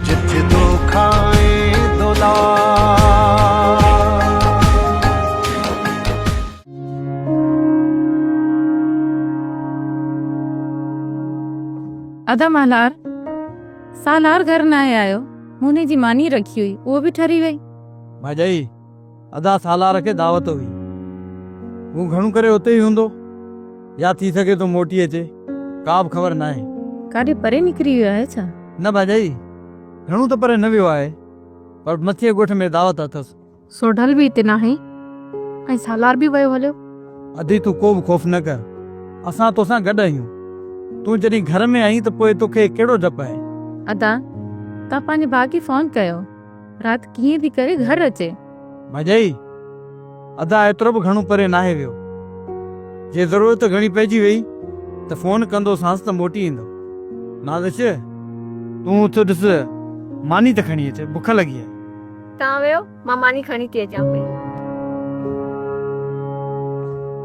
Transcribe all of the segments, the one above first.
جت دو کائين دولار ادا مالار سالار گهر ناهي آيو موني جي ماني رکي هئي اهو به ٺري وئي. ڀاڄائي ادا سالار کي دعوت هئي. هو گهڻو ڪري اتي ئي هوندو يا ٿي سگهي ٿو موٽي اچي. ڪا به خبر ناهي. ڪاڏي پري نڪري ويو آهي ڇا؟ نه ڀاڄائي، گهڻو ته پري نه ويو آهي، پر مٿينء ڳوٺ ۾ دعوت اٿس. سوڍل به اتي ناهي ۽ سالار به ويو هليو. ادي تون ڪو به خوف نه ڪر. اسان توسان گڏ آهيون. تون جڏهن گهر ۾ آهين ته پوء توکي ڪهڙو ڊپ آهي. ادا، توهان پنهنجي ڀاء کي فون ڪيو. رات ڪيئن ٿي ڪري گهر اچي. ڀڄائي، ادا ايترو به گهڻو پري ناهي ويو. جي ضرورت گهڻي پئجي ويئي ته فون ڪندوسانس ته موٽي ايندو. نازش، تون اٿ ڏس ماني ته کڻي اچ، بک لڳي آهي. تان ويهو، مان ماني کڻي ٿي اچان پئي.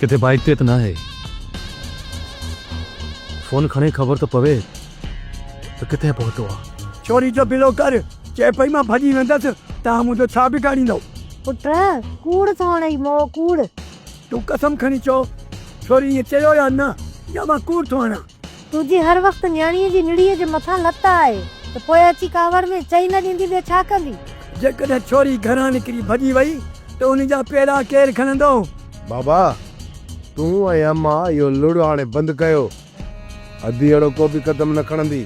ڪٿي بائيڪ تي ته ناهي. فون کڻي خبر ته پوي ته ڪٿي پهتو آ. ڇوري جو بلو ڪر. چئي پئي مان ڀڄي ويندس، توهان منهنجو ڇا بگاڙيندؤ؟ پٽ! ڪوڙ ٿو هڻئي مئو ڪوڙ. تون قسم کڻي چئو ڇوري ائين چيو يا نه يا مان ڪوڙ ٿو هڻان. تو جي هر وقت نياڻيء جي نڙيء جي مٿان لت آهي ته پوء اچي ڪاوڙ ۾ چئي نه ڏيندي ٻيو ڇا ڪندي؟ جيڪڏهن ڇوري گهران نڪري ڀڄي وئي ته ان جا پيرا ڪير کڻندو؟ بابا تون ۽ امان اهو لڙ هاڻي بند ڪيو. ادي اهڙو ڪو به قدم نه کڻندي.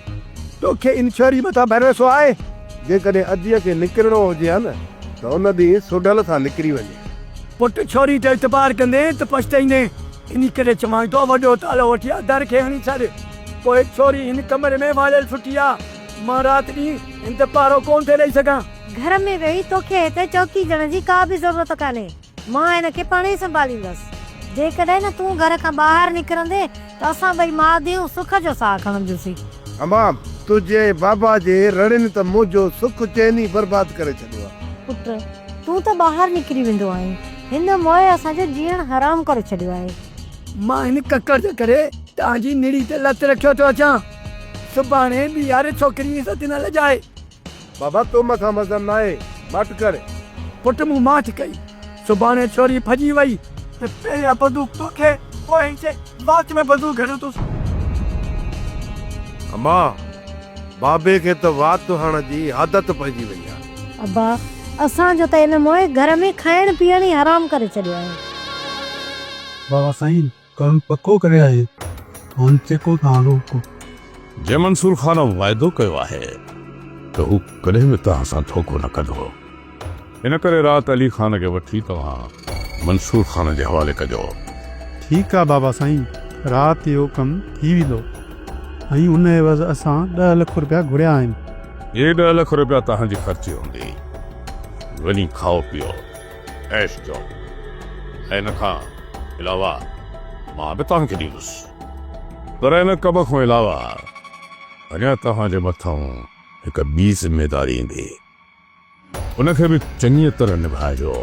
توکي ان ڇوري مٿان ڀروسو آهي؟ جيڪڏهن اديء کي نڪرڻو هجي ها نه ته ان ڏينهن سوڍل سان نڪري وڃي ها. پٽ ڇوري ته اعتبار ڪندين ته پڇتائيندين. انهي ڪري چوانء ٿو وڏو تالو وٺي آ در کي هڻي ڇڏ. پوء ڇوري هن ڪمري ۾ واڙيل سٺي آ. مان رات ڏينهن هن تي پهرو ڪونه ٿي ڏئي سگهان. گهر ۾ ويهي توکي هتي چوڪيدڙ جي ڪا به ضرورت ڪانهي. مان هن کي پاڻهي سنڀاليندس. جيڪڏهن نه تون گهر کان ٻاهر نڪرندين ته اسان ٻئي ماء ڌيئون سک جو ساهه کڻنديونسين. حمام، تنهنجي ۽ بابا جي رڙين ته منهنجو سک چين ئي برباد ڪري ڇڏيو آ. پٽ، تون ته ٻاهر نڪري ويندو آهين. هن موء اسان جو جيئڻ حرام ڪري ڇڏيو آهي. مان هن ڪڪڙ جي ڪري توهان جي نڙي تي لت رکيو ٿو اچان. سڀاڻي ٻيهاري ڇوڪري جي عزت نه لڄائي. بابا تو مان کان وزن ناهي ماٺ ڪر. پٽ مون ماٺ ڪئي. سڀاڻي ڇوري ڀڄي وئي. ته پهريان بندوق توکي پوء هن جي وات ۾ بندوق هڻيو ٿوس. امان، بابي کي ته وات هڻڻ جي عادت پئجي وئي آهي. ابا اسان جو ته ان موئي گهر ۾ کائڻ پيئڻ ئي حرام ڪري ڇڏيو آهي. بابا سائين ڪم پڪو ڪري آهي هاڻ چيڪو تان روڪو. جي منصور خان واعدو ڪيو آهي ته هو ڪڏهن به توهان سان ڌوڪو نه ڪندو ان ڪري رات علي خان کي وٺي توهان منصور خان جي حوالي ڪجو. ٺيڪ آ بابا سائين رات اهو ڪم ٿي ويندو ۽ ان عيوض اسان ڏهه لک روپيا گهريا آهن. هي ڏهه لک روپيا توهان جي خرچي هوندي. وڃي کائو پيئو عيش ڪيو ۽ ان کان علاوه مان به توهان کي ڏيندس. پر ان ڪم کان علاوه اڃا توهان جي مٿان هڪ ٻي ذميداري ايندي. ان کي به چڱيء طرح نڀائجو،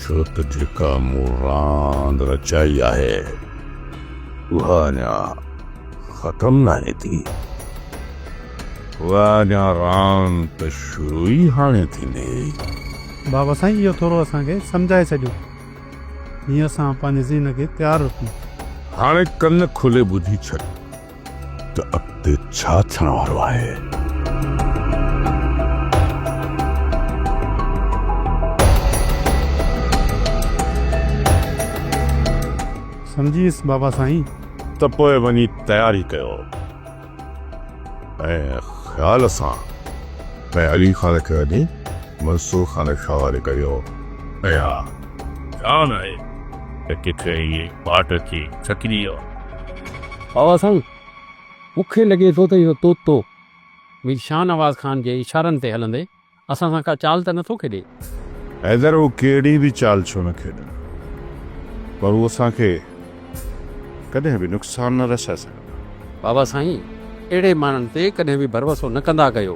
ڇو ته جيڪا مون راند رچائي آهي، اها اڃا ختم ناهي ٿي. اها اڃا راند ته شروع ئي هاڻي ٿيندي. بابا سائين اهو ٿورو اسان کي سمجهائي ڇڏيو، جيئن اسان پنهنجي ذهن کي تيار رکون. هاڻي ڪن کولي ٻڌي ڇڏ. ته اڳتي ڇا ٿيڻ وارو آهي. سمجهي ويس بابا سائين. ته پوء وڃي تياري ڪيو ۽ خيال سان ۽ علي خان کي وڃي منصور خان جي حوالي ڪيو ۽ ها جان آهي ته ڪٿي اهي پاٽ اچي ڇڪجي ويا. بابا سائين، مون کي لڳي ٿو ته اهو طوطو مير شاهنواز خان جي اشارن تي هلندي اسان سان ڪا چال ته نه ٿو کيڏي؟ حيدر، هو ڪهڙي به چال ڇو نه کيڏن، پر هو اسان کي ڪڏهن به نقصان نه رسائي سگهندا. بابا سائين، اهڙي ماڻهن تي ڪڏهن به ڀروسو نه ڪندا ڪيو.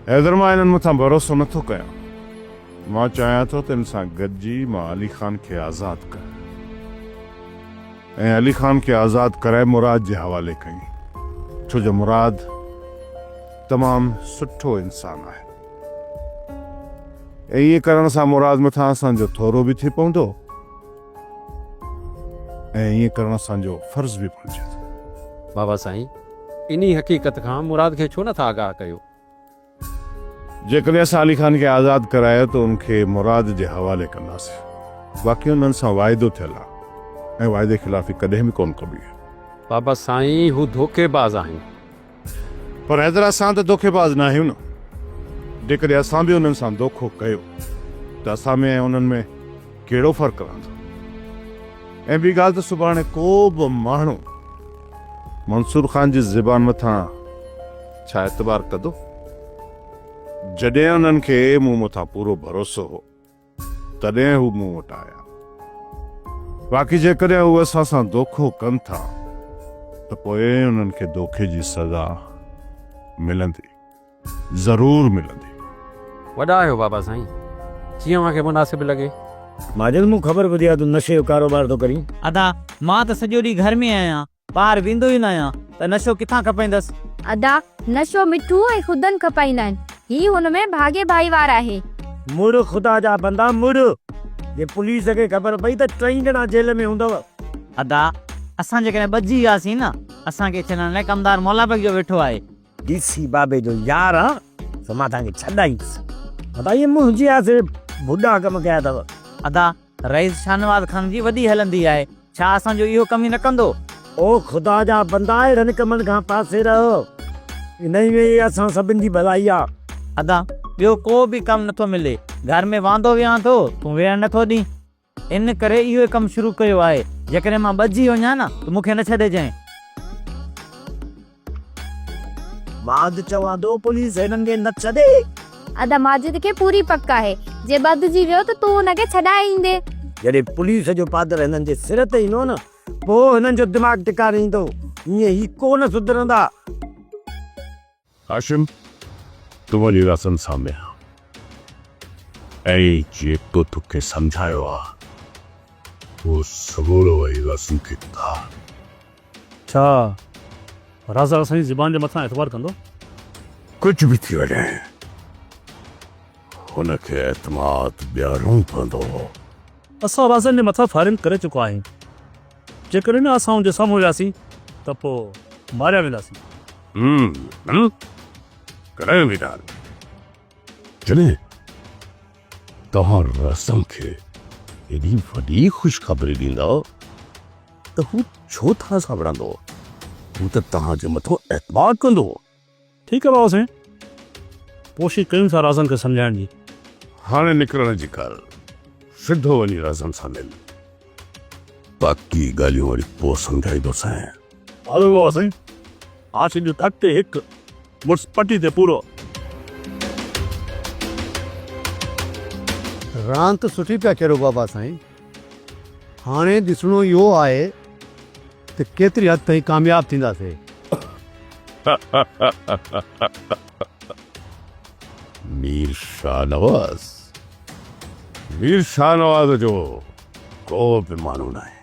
حيدر، مان انهن مٿان ڀروسو نه ٿو ڪيان. مان چاهيان ٿو ته ان سان گڏجي مان علي خان کي آزاد ڪريان. ۽ علي خان کي آزاد ڪرائي مراد جي حوالي ڪيائين، ڇو جو مراد تمام سٺو انسان آهي ۽ ائين ڪرڻ سان مراد مٿان اسان جو ٿورو به ٿي پوندو ۽ ائين ڪرڻ اسان جو فرض به بڻجي ٿو. بابا سائين انهي حقيقت کان مراد کي ڇو نه ٿا آگاهه ڪيو؟ جيڪڏهن اسان علي خان کي آزاد ڪرايو ته ان کي مراد جي حوالي ڪنداسين. باقي انهن سان واعدو ٿيل آهي ۽ واعدي خلافي ڪڏهن به ڪونه ڪبي آهي. بابا سائين هو ڌوڪي باز آهن. پر حيدر اسان ته ڌوڪي باز نه آهيون نه. جيڪڏهن اسان به انهن سان ڌوڪو ڪيو ته اسان ۾ ۽ انهن ۾ ڪهڙو فرق رهندو. ۽ ٻي ڳالهه ته سڀاڻي ڪو به ماڻهو منصور خان جي زبان مٿان ڇا اعتبار ڪندو؟ جڏهن انهن کي مون مٿان پورو ڀروسو هو، تڏهن هو مون وٽ آيا. باقي جيڪڏهن هو اسان سان دوکو ڪن ٿا ته پوء انهن کي دوکي جي سزا ملندي، ضرور ملندي. وڏا آهيو بابا سائين، جيئن اوهان کي مناسب لڳي. ماجد مون خبر ٻڌي آ تون نشي جو ڪاروبار ٿو ڪرين. ادا مان ته سڄو ڏينهن گهر ۾ آهيان ٻاهر ويندو ئي نه آهيان ته نشو ڪٿان کپائيندس. ادا، نشو مٺو ۽ خدن کپائيندا آهن. هي هن ۾ ڀاڳي ڀائيوار آهي. مڙھ خدا جا بندا مڙھ. جي پوليس کي خبر پئي ته ٽئي ڄڻا جيل ۾ هوندؤ. ادا، اسان جيڪڏهن ٻڌجي وياسين نه، اسان کي ڇڏڻ لاء ڪمدار مولا بيگ جو ويٺو آهي. ڊي سي بابي جو يار آهان سو مان توهان کي ڇڏائيندس. ادا، اهي منهنجي آسري ڀڏا ڪم ڪيا اٿو. ادا، رئيس شاهنواز خان جي وڏي هلندي آهي، ڇا اسان جو اهو ڪم ئي نه ڪندو؟ او خدا جا بندا اهڙن ڪمن کان پاسي رهو، انهي ۾ ئي اسان سڀن جي ڀلائي آ. ادا ٻيو ڪو به ڪم نه ٿو ملي، گهر ۾ واندو ويهان ٿو، تون ويهڻ نه ٿو ڏين، ان ڪري اهو ئي ڪم شروع ڪيو آهي، جيڪڏهن مان ٻڌجي وڃان ته مون کي نه ڇڏجئين. ماجد چوان ٿو پوليس هنن کي نه ڇڏي. ادا ماجد کي پوري پڪ آهي جي ٻڌجي ويو ته تون ان کي ڇڏائي ايندين. جڏهن پوليس جو پادر هنن جي سر تي ايندو نه پوء هنن جو دماغ ٽڪاڻي ايندو هيئن هي ڪو نه سڌرندا. هاشم تون وڃ رسن سان مل ۽ جيڪو توکي سمجهايو آهي اهو سمورو وڃي رسن کي ٻڌاء. ڇا رازا اسان جي زبان جي مٿان اعتبار ڪندو؟ ڪجهه به ٿي وڃي هن کي اعتماد ڏيارڻو پوندو. اسان رازن جي مٿان فائرنگ ڪري چڪا آهيون. جيڪڏهن اسان هن جي سامهون وياسين ته پوء ماريا وينداسين. ڪڏهن به نه. جڏهن توهان رسم کي ايڏي وڏي خوشخبري ڏيندا ته هو ڇو توهان سان وڙهندو؟ هو ته توهان جي مٿان اعتماد ڪندو. ٺيڪ آهي بابا سائين، ڪوشش ڪيون ٿا رازن کي سمجهائڻ جي. هاڻي نڪرڻ جي ڪر، سڌو وڃي رازن سان مل. باقي ڳالهيون وري پوء سمجهائيندوسانء. هلو بابا سائين هاشم جو ٽڪ تي هڪ مڙس پٽي تي پورو. راند سٺي پيا کيڏو بابا سائين هاڻي ڏسڻو اهو آهي ته ڪيتري حد تائين ڪامياب ٿينداسين. مير شاهنواز مير شاهنواز جو ڪو به معنو ناهي.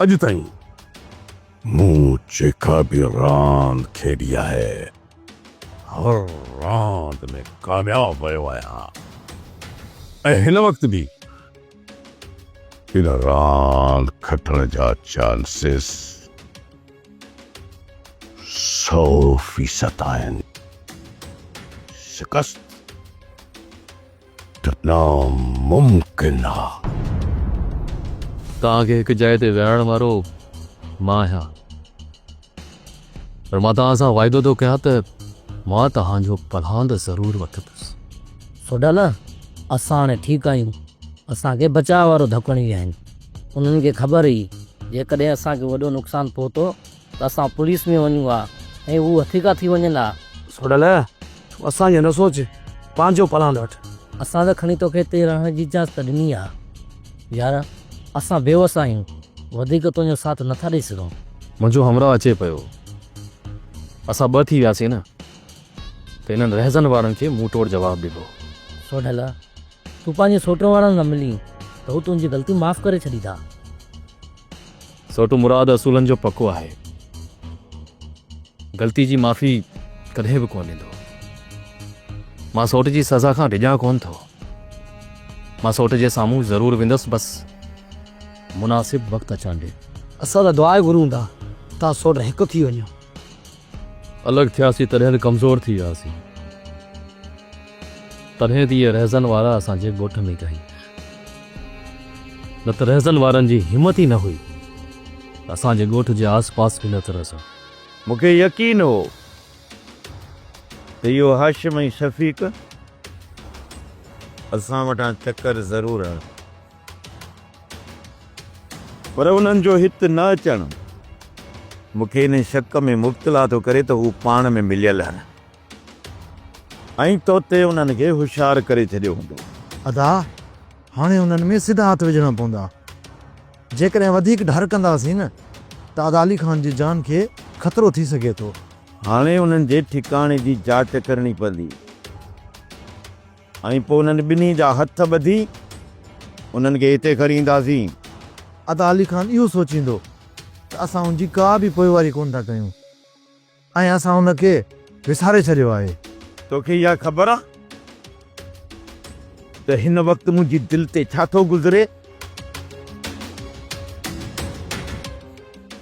اڄ تائين مون جيڪا به راند کيڏي آهي، هر راند ۾ ڪامياب ويو آهيان ۽ هن وقت به ان راند کٽڻ جا چانسز سؤ فيصد آهن. شڪست؟ ناممڪن آ. توهان کي هڪ جاء تي ويهارڻ وارو مان آهيان پر مان توهان سان واعدو ٿو ڪيان ته مان توهان جو پلهاند ضرور وٺندس. سوڍلا، اسان هاڻي ٺيڪ آهيون. اسان کي بچاء وارو ڌڪڻ ئي آهن. انهن کي خبر هئي جيڪڏهن اسان کي وڏو نقصان پهتو ته اسان پوليس ۾ وڃون ها ۽ هو هٿيڪا ٿي وڃن ها. سوڍل، تون اسان جو نه سوچ، پنهنجو پلاند وٺ. اسان ته کڻي توکي هتي رهڻ جي اجازت ڏني آ. يار، اسان بيوس آهيون، وڌيڪ تنهنجو ساٿ نٿا ڏئي سگهون. منهنجو همراهه اچي پيو. اسان ٻه ٿي وياسين نه ته انهن رهزن وارن کي منهن ٽوڙ جواب ڏبو. سوڍل، تون پنهنجي سوٽن وارن سان ملين ته هو تنهنجي غلطي معاف ڪري ڇڏيندا. سوٽو مراد اصولن جو پڪو آهي. غلطي جي معافي ڪڏهن به ڪونه ڏيندو. مان سوٽ جي سزا کان ڊڄان ڪونه ٿو. مان سوٽ جي سامهون ضرور ويندس بس مناسب وقت اچڻ ڏي. اسان ته دعا ئي گهرون ٿا، تان سوٽ هڪ ٿي وڃو. الڳ ٿياسين تڏهن ڪمزور ٿي وياسين. تڏهن ته اهي رهزن وارا اسان جي ڳوٺ ۾ ڪهي. نه ته رهزن وارن جي همت ئي نه هئي ته اسان جي ڳوٺ جي آس پاس به نه ته رسن. مون کي يقين هو ته اهو هاشم ۽ شفيق اسان وٽان چڪر ضرور هڻن. پر انهن جو هت نه اچڻ مون کي ان شڪ ۾ مبتلا ٿو ڪري ته هو پاڻ ۾ مليل آهن ۽ تو تي انهن کي هوشيار ڪري ڇڏيو هوندو. ادا هاڻي انهن ۾ سڌا هٿ وجهڻا پوندا. جيڪڏهن وڌيڪ ڍر ڪنداسين نه ته ادا علي خان جي جان کي خطرو ٿي سگهي ٿو. هاڻي انهن جي ٺڪاڻي جي جاچ ڪرڻي پوندي. ۽ پوء انهن ٻنهي جا هٿ ٻڌي انهن کي هتي کڻي اينداسين. عطا علي خان اهو سوچيندو ته اسان ان جي ڪا به پوئواري ڪونه ٿا ڪيون ۽ اسان ان کي وساري ڇڏيو آهي. توکي اها خبر آهي ته هن وقت منهنجي دل تي ڇا ٿو گذري؟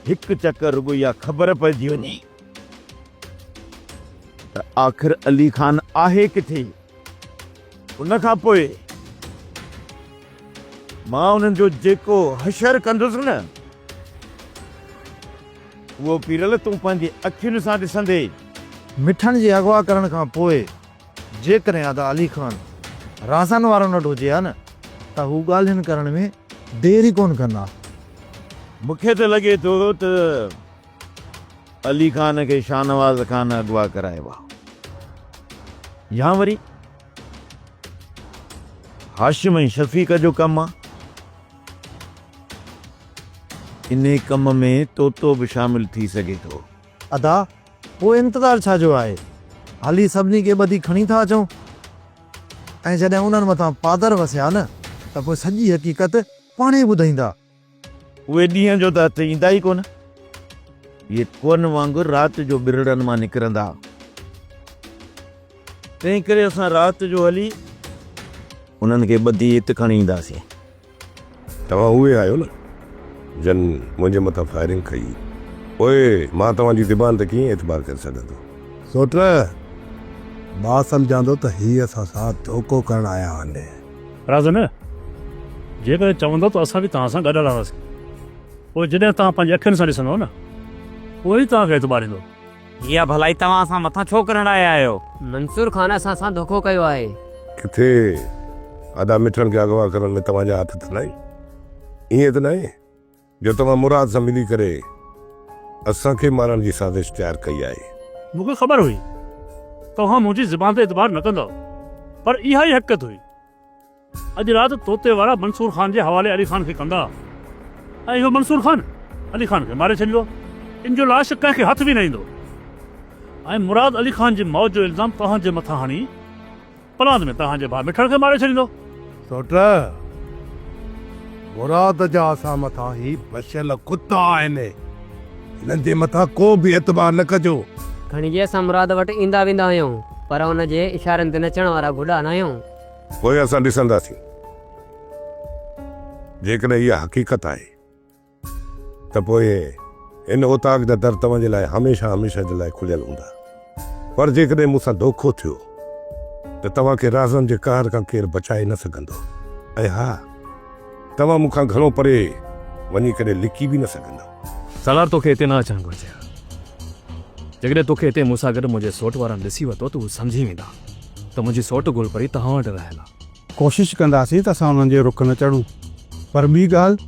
هڪ چڪر رڳو اها خبر پئجي وڃي. ته آخر علي خان آهي ڪٿي ان کان پوء مان انهن جو جيڪو حشر ڪندس نه اهو پيرل تون پنهنجي اکين سان ڏسندي. مٺڻ جي اغوا ڪرڻ کان پوء جيڪڏهن ادا علي خان رازن وارن وٽ هجي ها نه ته هو ڳالهين ڪرڻ ۾ دير ئي ڪونه ڪندا. مون کي ته لڳي ٿو ته. علي خان کي شاهنواز خان اغوا ڪرايو ها يا وري هاشم ۽ شفيق جو ڪم آ. انهي ڪم ۾ طوطو به شامل ٿي سگهي ٿو. ادا پوء انتظار ڇا جو آهي هلي سڀني کي ٻڌي کڻي ٿا اچون ۽ جڏهن انهن مٿان پادر وسيا نه ته پوء سڄي حقيقت پاڻهي ٻڌائيندا. اهي ڏينهن جو ته هٿ ايندا ئي ڪونه. اهي ڪوهن وانگر رات جو ٻرڙن مان نڪرندا. تنهنڪري اسان رات جو هلي انهن کي ٻڌي هت کڻي اينداسين. توهان اهي آهيو نه جن منهنجي مٿان فائرنگ ڪئي هئي. پوء مان توهان جي زبان تي ڪيئن اعتبار ڪري سگهندو. سوٽر! مان سمجهان ٿو ته هي اسان سان ڌوڪو ڪرڻ آيا آهن. راضن، جيڪڏهن چوندؤ ته اسان به توهان سان گڏ هلنداسين. پوء جڏهن توهان پنهنجي اکين سان ڏسندؤ نه، پوء ئي توهان کي اعتبار ايندو. جي اها ڀلائي توهان اسان مٿان ڇو ڪرڻ آيا آهيو؟ منصور خان اسان سان ڌوڪو ڪيو آهي. ڪٿي ادا مٺڻ کي اغوا ڪرڻ ۾ توهان جا هٿ ته ناهن؟ ائين ته ناهي؟ جو توهان مراد سان ملي ڪري اسان کي مارڻ جي سازش تيار ڪئي آهي. مون کي خبر هئي توهان منهنجي زبان تي اعتبار نه ڪندؤ پر اها ئي حقيقت هئي. اڄ رات توتي وارا منصور خان جي حوالي علي خان کي ڪندا ۽ اهو منصور خان علي خان کي ماري ڇڏيندو. ان جو لاش ڪنهن کي هٿ به نه ايندو ۽ مراد علي خان جي موت جو الزام توهان جي مٿان هڻي، پلاند ۾ توهان جي ڀاء مٺڙ کي ماري ڇڏيندو. سوٽ! مراد جا اسان مٿان هي بڇيل ڪتا آهن. هنن جي مٿان ڪو به اعتبار نه ڪجو. کڻجي اسان مراد وٽ ايندا ويندا آهيون پر ان جي اشارن تي نچڻ وارا گڊا ناهيون. پوء اسان ڏسنداسين جيڪڏهن اها حقيقت آهي. ته پوء هن اوطاق جا در توهان جي لاء هميشه هميشه جي لاء کليل هوندا. پر جيڪڏهن مون سان دوکو ٿيو ته توهان کي رازن جي قهر کان ڪير بچائي نه سگهندو ۽ ها توهان مون کان گهڻو پري وڃي ڪڏهن لڪي به نه سگهندؤ. سالار توکي هتي نه اچڻ گهرجي ها. جيڪڏهن توکي هتي مون سان گڏ منهنجي سوٽ وارا نه ڏسي ورتو ته هو سمجهي ويندا ته منهنجي سوٽ گل پري توهان وٽ رهيل آ. ڪوشش ڪنداسين ته اسان انهن جي رک نه چڙهون. پر ٻي ڳالهه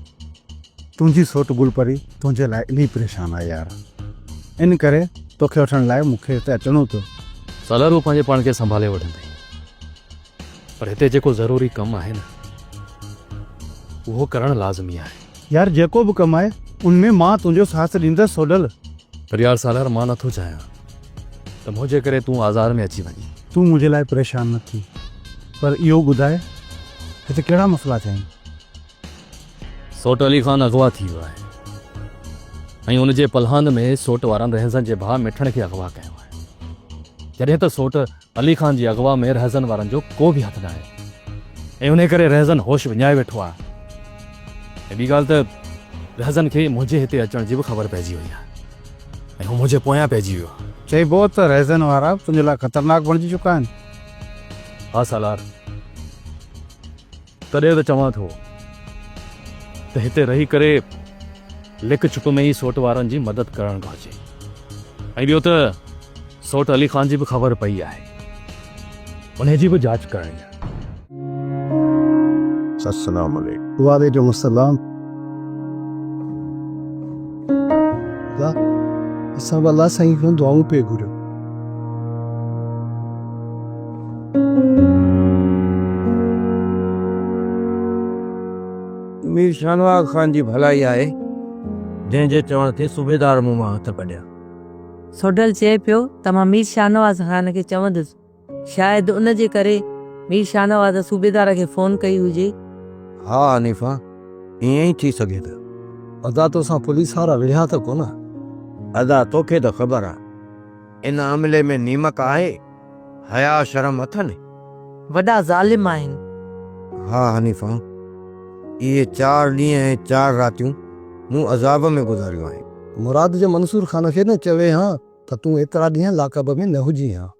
تنهنجي سوٽ گل پري تنهنجي لاء الهي پريشان آهي يار. ان ڪري توکي وٺڻ لاء مون کي هتي اچڻو پيو. سالار هو پنهنجي پاڻ کي سنڀالي وٺندي. پر هتي جيڪو ضروري ڪم آهي نه اهو ڪرڻ لازمي آهي. يار جيڪو به ڪم آهي ان ۾ مان تنهنجو ساٿ ڏيندس سوڍل. پر يار سالار مان نٿو چاهيان. ته منهنجي ڪري تون آزار ۾ اچي وڃين. تون منهنجي لاء پريشان نه ٿي پر اهو ٻڌاء هتي ڪهڙا مسئلا ٿيا آهن؟ سوٽ علي خان اغوا ٿي ويو آهي ۽ ان جي پلهاند ۾ سوٽ وارن رهنسن جي ڀاء مٺڻ کي اغوا ڪيو آهي جڏهن ته سوٽ علي خان جي اغوا ۾ رهزن وارن جو ڪو به هٿ ناهي ۽ انهي ڪري رهزن هوش وڃائي ويٺو آهي ۽ ٻي ڳالهه ته رهزن کي منهنجي هتي اچڻ جي به خبر پئجي وئي آهي ۽ هو منهنجي پويان پئجي ويو آهي. چئبو آهي ته رهزن وارا تنهنجي لاء خطرناڪ بڻجي چڪا آهن. ها سالار! تڏهن ته چوان ٿو ته هتي رهي ڪري لڪ ڇپ ۾ ئي سوٽ وارن جي مدد ڪرڻ گهرجي ۽ ٻيو ته سوٽ علي خان جي به خبر پئي آهي انهي جي به جاچ ڪرڻي آهي. السلام عليڪم. وعليڪم السلام. الله اسان به الله سائين کان دعائون پئي گهريون مير شاهنواز خان جي ڀلائي آهي جنهن جي چوڻ تي صوبيدار مون مان هٿ ڪڍيا. سوڍل چئي پيو ته مان مير شاهنواز خان کي چوندس. شايد ان جي ڪري مير شاهنواز صوبيدار کي فون ڪئي هجي. ها حنيفه ائين ئي ٿي سگهي ٿو. ادا توسان پوليس وارا وڙهيا ته ڪونه؟ ادا توکي ته خبر آ ان عملي ۾ نيمڪ آهي حياء شرم اٿن؟ وڏا ظالم آهن. ها حنيفه اهي چار ڏينهن ۽ چار راتيون مون عذاب ۾ گذاريون آهن. مراد جي منصور خان کي نه چوي هان ته تون ايترا ڏينهن لاڪ اپ ۾ نه هجين هان.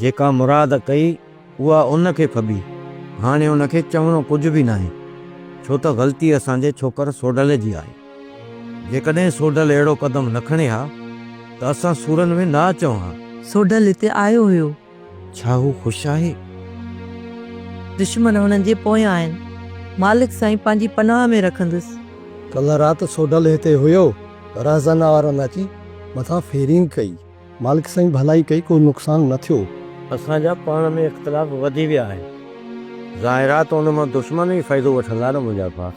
جيڪا مراد ڪئي اها ان کي ڦٻي. هاڻي ان کي چوڻو ڪجهه به ناهي ڇو ته غلطي اسان جي ڇوڪر سوڍل جي آهي. جيڪڏهن سوڍل اهڙو قدم نه کڻي ها ته اسان سورن ۾ نه اچون ها. سوڍل هتي آيو هيو. ڇا هو خوش آهي؟ دشمن هنن جي پويان آهن. مالڪ سائين پنهنجي پناهه ۾ رکندس. ڪلهه رات سوڍل هتي هيو. رهزن وارن اچي مٿان فيرنگ ڪئي. مالڪ سائين ڀلائي ڪئي ڪو نقصان نه ٿيو. اسان جا پاڻ ۾ اختلاف وڌي ويا آهن ظاهر آ ته ان مان دشمن ئي فائدو وٺندا نه منهنجا ڀا.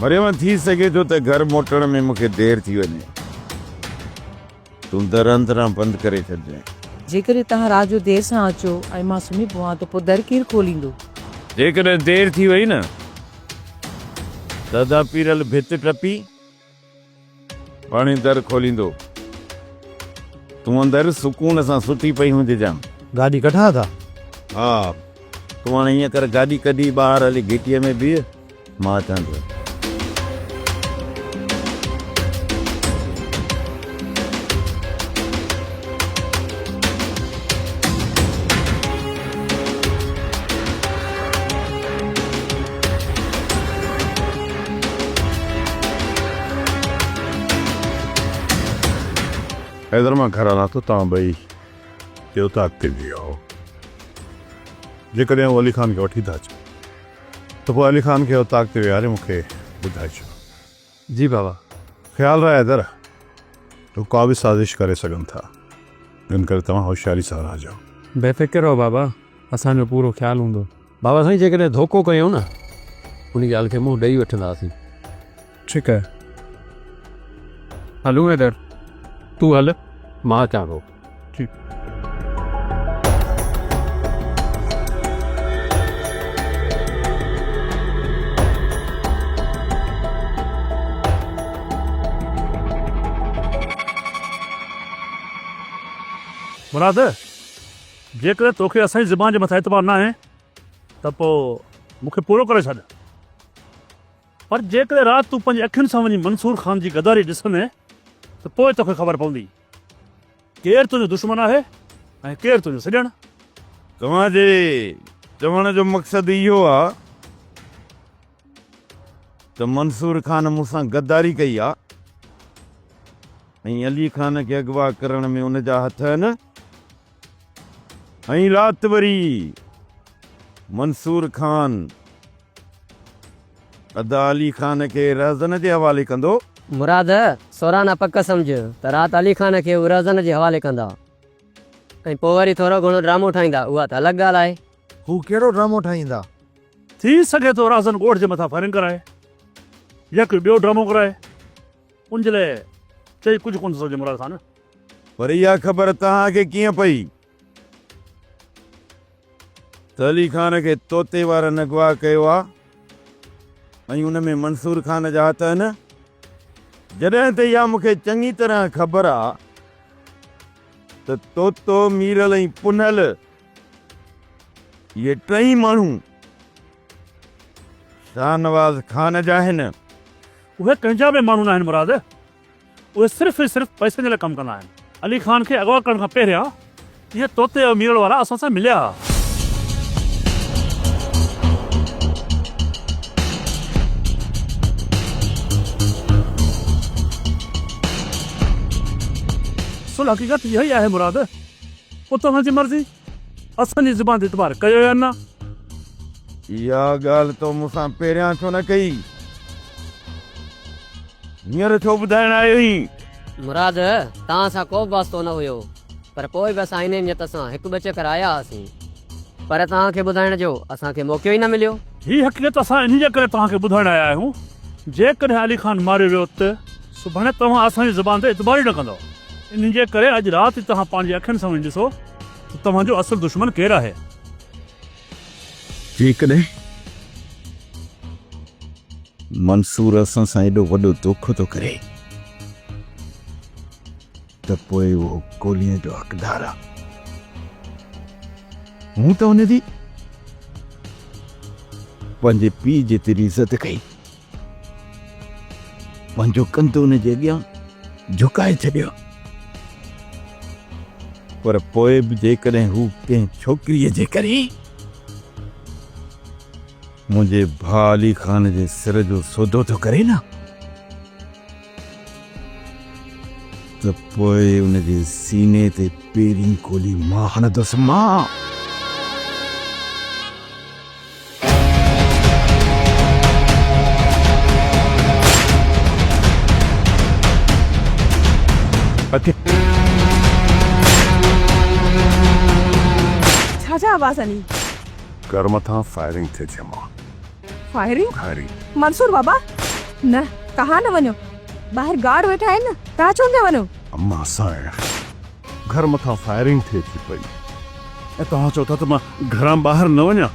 مريم ٿي سگهي ٿو ته گهر موٽڻ ۾ مون کي دير ٿي وڃي تون در اندران بند ڪري ڇڏجانء جيڪڏهن توهان رات جو دير سان اچو ۽ مان سمهي پوان ته پوء در ڪير کوليندو؟ جيڪڏهن دير ٿي وئي نه ته ادا پيرل ڀت ٽپي پاڻهي در کوليندو. تون اندر سڪون سان ستي پئي هوندي جان. گاڏي ڪڍان ٿا. ها تون هاڻي ائين ڪر گاڏي ڪڍي ٻاهر هلي گهٽيء ۾ بيهه مان اچان ٿو. حيدر مان گهر هلان ٿو توهان ٻئي جي اتاق تي بيهو جيڪڏهن هو علي خان کي وٺي ٿا اچن ته پوء علي خان کي اتاق تي ويهاري مون کي ٻڌائجو جي بابا. خيال رهي حيدر. هو ڪا به سازش ڪري سگهن ٿا. ان ڪري توهان هوشياري سان رهجو. بي فڪر رهو بابا. اسان جو پورو خيال هوندو. بابا سائين جيڪڏهن ڌوڪو ڪيو نه ان ڳالهه کي منهن ڏئي وٺنداسين. ٺيڪ آهي. هلون حيدر. تون هل مان اچان ٿو. مراد! جيڪڏهن توکي اسان جي زبان جي مٿان اعتبار ناهي ته پوء مون کي پورو ڪري ڇڏ. پر جيڪڏهن رات تون پنهنجي اکين سان وڃي منصور خان جي غداري ڏسندين ته پوء توکي خبر پوندي. ڪير تنهنجو دشمن آهي ۽ ڪير تنهنجو سڄڻ؟ توهان جي چوڻ جو مقصد اهو آ ته منصور خان مون سان غداري ڪئي آ ۽ علي خان کي اغوا ڪرڻ ۾ ان جا هٿ آهن ائين رات وري منصور خان ادا علي خان کي رهزن جي حوالي ڪندو. مراد، سوران آ پڪ سمجهه ته رات علي خان کي هو رهزن جي حوالي ڪندا ۽ پوء وري ٿورو گهڻو ڊرامو ٺاهيندا اها ته الڳ ڳالهه آهي. هو ڪهڙو ڊرامو ٺاهيندا؟ ٿي سگهي ٿو رهزن ڳوٺ جي مٿان فائرنگ ڪرائي يا ڪوئي ٻيو ڊرامو ڪرائي ان جي لاء چئي ڪجهه ڪونه ٿو سگهجي مراد خان. پر اها خبر توهان کي ڪيئن پئي ته علي خان کي طوطي وارن اغوا ڪيو آهي ۽ ان ۾ منصور خان جا هٿ آهن؟ جڏهن ته اها مون کي چڱي طرح خبر آهي ته طوطو، ميرل ۽ پنهل اهي ٽئي ماڻهو شاهنواز خان جا آهن. اهي ڪنهن جا به ماڻهو ناهن مراد. اهي صرف ۽ صرف پئسن جي لاء ڪم ڪندا آهن. علي خان کي اغوا ڪرڻ کان پهريان اهي طوطي ۽ ميرڙ وارا اسان سان مليا ها. سو الحقيقت اها ئي آهي مراد. پوء توهان جي مرضي. اسان جي زبان تي اعتبار ڪيو يا نه؟ اها ڳالهه تو مون سان پهريان ڇو نه ڪئي؟ هينئر ڇو ٻڌائڻ آيوئين؟ مراد، توهان سان ڪو به واسطو نه هيو، پر پوء به اسان انهيء نيت سان هڪ ٻه چڪر آيا هئاسين. پر توهان کي ٻڌائڻ جو اسان کي موقعو ئي نه مليو. هيء حقيقت اسان انهيء جي ڪري توهان کي ٻڌائڻ آيا آهيون، جيڪڏهن علي خان ماريو ويو ته سڀاڻي توهان اسان جي زبان تي اعتبار ئي نه ڪندؤ. انهيء جي ڪري اڄ رات ئي توهان پنهنجي اکين سان وڃي ڏسو. ته توهان جو اصل دشمن ڪير آهي؟ جيڪڏهن منصور اسان سان ايڏو وڏو دوکو ٿو ڪري ته پوء اهو گوليء جو حقدار آهي. مون ته ان جي پنهنجي پيء جيتري عزت ڪئي. پنهنجو ڪنڌ ان جي اڳيان جهڪائي ڇڏيو، پر پوء به جيڪڏهن هو ڪنهن ڇوڪريء جي ڪري منهنجي ڀاء علي خان جي سر جو سودو ٿو ڪري نه، ته پوء ان جي سيني تي پيرين گولي مان هڻندس مان. ڇا جا آواز آهن هي؟ گهر مٿان فائرنگ ٿي ٿئي مان. فائرنگ کاري منصور بابا نه تهان نه وڃو ٻاهر گارڊ ويٺا آهن نه تهان ڇو پيا وڃو. اما سائين گهر مٿان فائرنگ ٿئي ٿي پئي ۽ توهان چئو ٿا ته مان گهران ٻاهر نه وڃان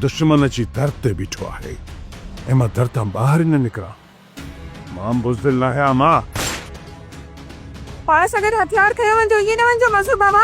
دشمن اچي در تي بيٺو آهي ۽ مان در تان ٻاهر ئي نه نڪران. مان بزدل ناهي آ ماء. پاڻ سان گڏ هٿيار کنيو وڃجو ائين نه وڃجو مظهر بابا.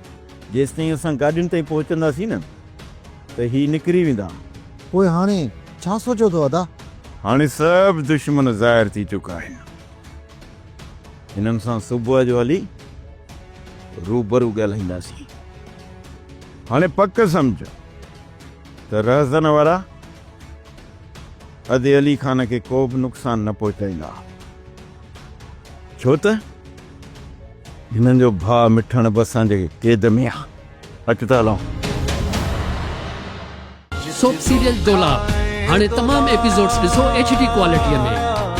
جيستائين اسان گاڏين تائين پهچنداسين نه ته هي نڪري ويندا. پوء هاڻي ڇا سوچيو اٿو ادا؟ هاڻي سڀ دشمن ظاهر ٿي چڪا آهن. هنن سان صبح جو هلي روبرو ڳالهائينداسين. هاڻي پڪ سمجهه ته رهزن وارا ادي علي خان کي ڪوبه نقصان نه پهچائيندا. ڇو ته. هنن جو ڀاء مٺڻ به اسان جي قيد ۾ آ. اچ ته هلون. سوپ سيريل دولاب هاڻي تمام ايپيسوڊس ڏسو ايڇ ڊي ڪوالٽي ۾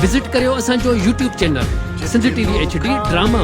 وزٽ ڪريو اسان جو YouTube channel Sindh T V H D drama.